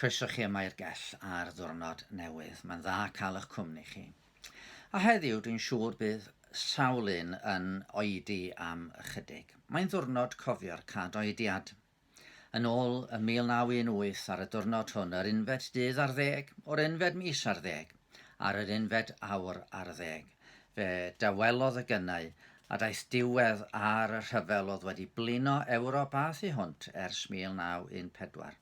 Croeso chi yma i'r gell ar ddwrnod newydd. Mae'n dda cael eich cwmni chi. A heddiw dwi'n siŵr bydd sawl un yn oedi am ychydig. Mae'n ddwrnod cofio'r cad oediad. Yn ôl yn 1918 ar y diwrnod hwn, yr unfed dydd ar ddeg o'r unfed mis ar ddeg, ar yr unfed awr ar ddeg. Fe dawelodd y gynnau a daeth diwedd ar y rhyfel oedd wedi blino Ewrop a thu hwnt ers 1914.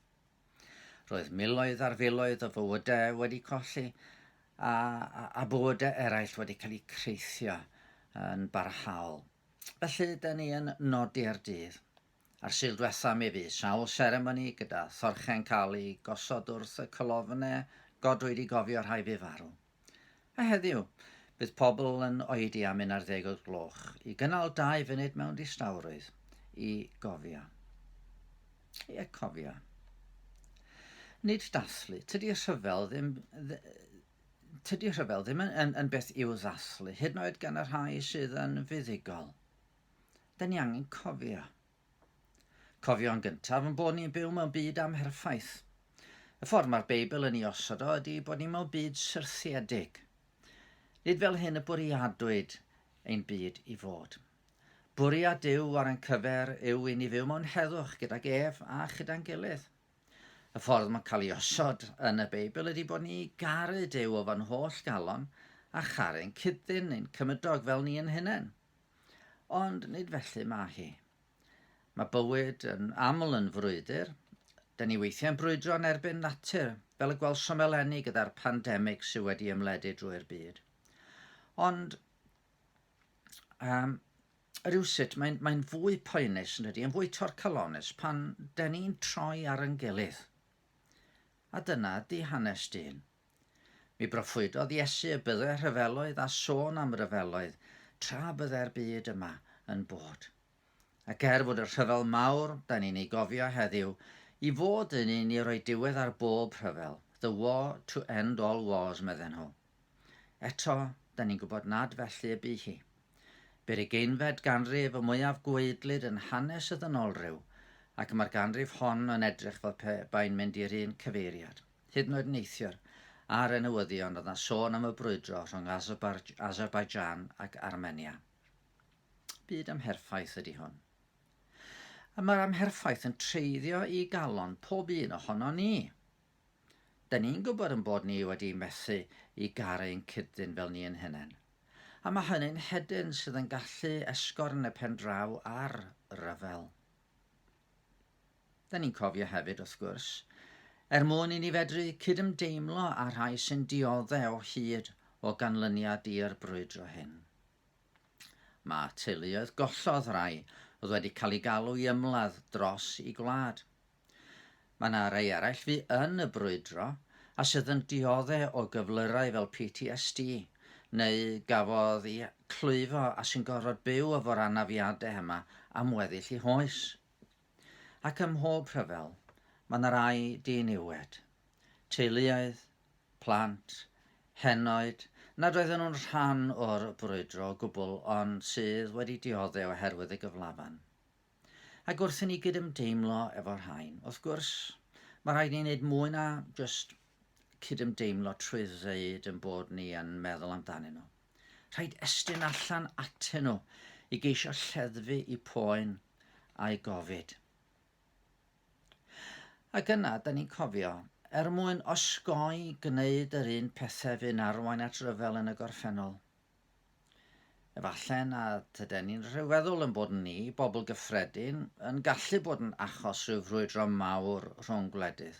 Roedd miloedd ar filoedd o fywydau wedi colli a, a, a bywydau eraill wedi cael eu creithio yn barhaol. Felly, da ni yn nodi'r dydd. A'r Sul dwetha mi fu sawl seremoni gyda thorche'n cael i gosod wrth y colofne godwyd i gofio rhai fu farw. A heddiw, bydd pobl yn oedi am un ar ddeg o'r gloch i gynnal dau funud mewn distawrwydd i gofio. Ie, cofio. Nid dathlu. Tydi rhyfel ddim... Tydi rhyfel ddim yn, yn, yn beth i'w ddathlu, hyd yn oed gan y rhai sydd yn fuddugol. 'da ni angen cofio. Cofio yn gyntaf yn bod ni'n byw mewn byd amherffaith. Y ffordd mae'r Beibl yn ei osod o ydy bod ni mewn byd syrthiedig. Nid fel hyn y bwriadwyd ein byd i fod. Bwriad Duw ar ein cyfer yw i ni fyw mewn heddwch gydag ef a chyda'n gilydd. Y ffordd mae'n cael ei osod yn y Beibl ydy bod ni garu Duw o fan holl galon a charu'n cydyn ein cymydog fel ni yn hunain. Ond nid felly mae hi. Mae bywyd yn aml yn frwydr. Da ni weithiau'n brwydro yn erbyn natur, fel y gwelsom eleni gyda'r pandemig sydd wedi ymledu drwy'r byd. Ond um, rhywsut mae'n mae fwy poenus yn ydy, yn fwy torcalonus pan da ni'n troi ar yn gilydd. A dyna di hanes dyn. Mi broffwydodd Iesu y bydde rhyfeloedd a sôn am ryfeloedd tra bydde'r byd yma yn bod. Ac er fod y rhyfel mawr da ni'n ei gofio heddiw i fod yn un i roi diwedd ar bob rhyfel, the war to end all wars, medden nhw. Eto, da ni'n gwybod nad felly y bu hi. Bu'r ugeinfed ganrif y mwyaf gwaedlyd yn hanes y ddynolryw, ac mae'r ganrif hon yn edrych fel pe bai'n mynd i'r un cyfeiriad. Hyd yn oed neithiwr, ar y newyddion, roedd yna sôn am y brwydro rhwng Azerbaijan ac Armenia. Byd amherffaith ydy hwn. A mae'r amherffaith yn treiddio i galon pob un ohono ni. Da ni'n gwybod yn bod ni wedi methu i garu ein cyd-dyn fel ni yn hunain. A mae hynny'n hedyn sydd yn gallu esgorn y pen draw ar ryfel. 'da ni'n cofio hefyd, wrth gwrs, er mwyn i ni fedru cydymdeimlo â rhai sy'n diodde o hyd o ganlyniad i'r brwydro hyn. Mae teuluoedd gollodd rai oedd wedi cael ei galw i ymladd dros i gwlad. Mae yna rai eraill fu yn y brwydro a sydd yn diodde o gyflyrau fel PTSD neu gafodd i clwyfo a sy'n gorfod byw efo'r anafiadau yma am weddill i hoes. Ac ym mhob rhyfel, mae 'na rai diniwed, teuluoedd, plant, henoed nad oedden nhw'n rhan o'r brwydro o gwbl ond sydd wedi diodde' oherwydd y gyflafan. Ac wrth i ni gydymdeimlo efo'r rhain, wrth gwrs, mae rhaid ni wneud mwy na jyst cydymdeimlo trwy ddeud ein bod ni yn meddwl amdanyn nhw. Rhaid estyn allan atyn nhw i geisio lleddfu i poen a'i gofid. Ac yna, da ni'n cofio, er mwyn osgoi gwneud yr un pethau fu'n arwain at ryfel yn y gorffennol. Efallai na tyden ni'n rhyfeddol yn bod ni, bobl gyffredin, yn gallu bod yn achos rhyw frwydro mawr rhwng gwledydd.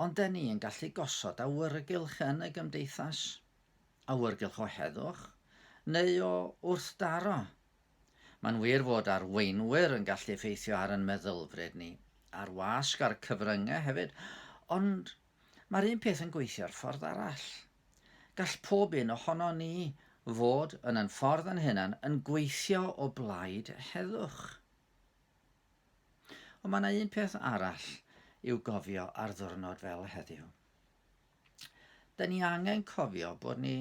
Ond da ni yn gallu gosod awyrgylch yn y gymdeithas. awyrgylch o heddwch neu o wrthdaro. Mae'n wir fod arweinwyr yn gallu effeithio ar yn meddylfryd ni, a'r wasg a'r cyfryngau hefyd, ond mae'r un peth yn gweithio'r ffordd arall. Gall pob un ohonon ni fod yn yn ffordd yn hunan yn gweithio o blaid heddwch. Ond mae yna un peth arall i'w gofio ar ddiwrnod fel heddiw. 'da ni angen cofio bod ni,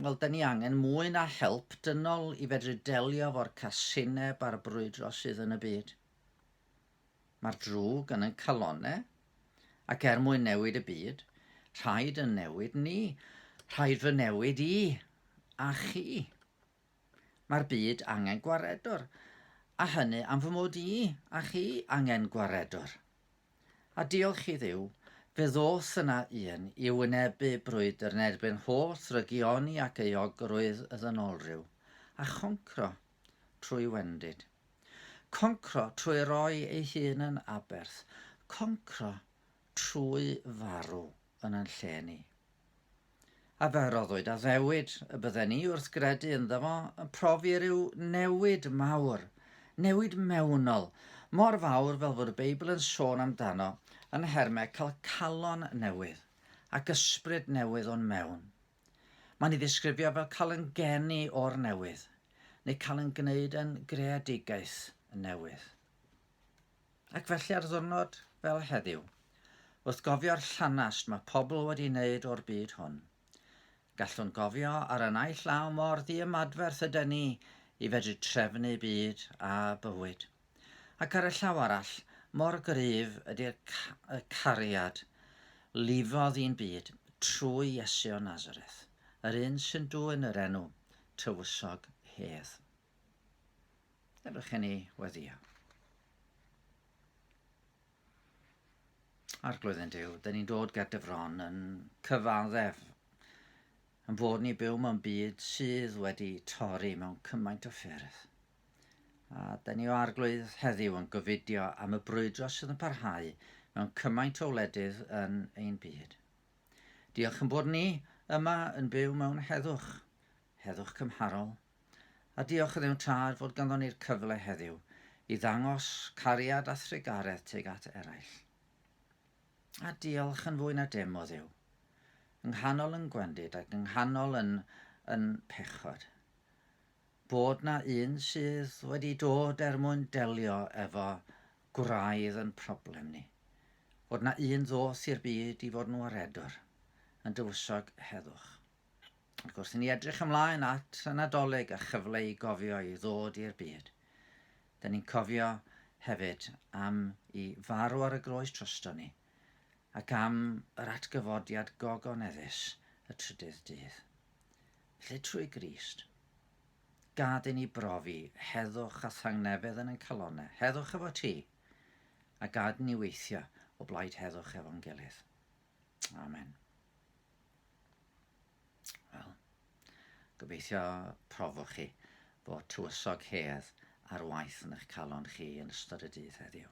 wel, 'da ni angen mwy na help dynol i fedru delio efo'r casineb a'r brwydro sydd yn y byd. Mae'r drwg yn yn calonne, ac er mwyn newid y byd, rhaid yn newid ni, rhaid fy newid i, a chi. Mae'r byd angen gwaredwr, a hynny am fy mod i a chi angen gwaredwr. A diolch i Dduw, fe ddoth yna un i wynebu brwydr yn erbyn holl drygioni ac euogrwydd y ddynolryw, a choncro, trwy wendid. Concro trwy roi ei hun yn aberth, concro trwy farw yn yn lle ni. A fe roddwyd addewid y bydden ni wrth gredu ynddo fo yn profi rhyw newid mawr, newid mewnol, mor fawr fel fod y Beibl yn sôn amdano yn nhermau cael calon newydd ac ysbryd newydd o'n mewn. Mae'n ei ddisgrifio fel cael yn geni o'r newydd, neu cael yn gwneud yn greadigaeth newydd. Ac felly ar ddwrnod fel heddiw, wrth gofio'r llanast mae pobl wedi wneud o'r byd hwn, gallwn gofio ar y naill law mor ddiymadferth yden ni i fedru trefnu byd a bywyd, ac ar y llaw arall mor gryf ydy'r y cariad lifodd i'n byd trwy Iesu o Nazareth, yr un sy'n dwyn yr enw tywysog hedd. Ydych chi'n ei weddio? Arglwydd yn Dyw, dyn ni'n dod gyda fron yn cyfaddef yn bod ni byw mewn byd sydd wedi torri mewn cymaint o ffyrdd. A dyn ni o arglwydd heddiw yn gofidio am y brwydro sydd yn parhau mewn cymaint o wledydd yn ein byd. Diolch yn bod ni yma yn byw mewn heddwch, heddwch cymharol, A diolch i Dduw Tad fod ganddo ni'r cyfle heddiw i ddangos cariad a thrugaredd tuag at eraill. A diolch yn fwy na dim o Dduw. Yng nghanol yn gwendid ac yng nghanol yn, yn pechod. Bod na un sydd wedi dod er mwyn delio efo gwraidd yn problem ni. Bod na un ddoth i'r byd i fod yn waredwr, yn dywysog heddwch. Ac wrth i ni edrych ymlaen at y Nadolig a chyfle i gofio i ddod i'r byd, dyn ni'n cofio hefyd am i farw ar y groes trosto ni ac am yr atgyfodiad gogoneddus y trydydd dydd. Lle trwy Grist, gad i ni brofi heddwch a thangnefedd yn yn calonau, heddwch efo ti, a gad ni weithio o blaid heddwch efo'n gilydd. Amen. Wel, gobeithio profwch chi fod tywysog hedd ar waith yn eich calon chi yn ystod y dydd heddiw.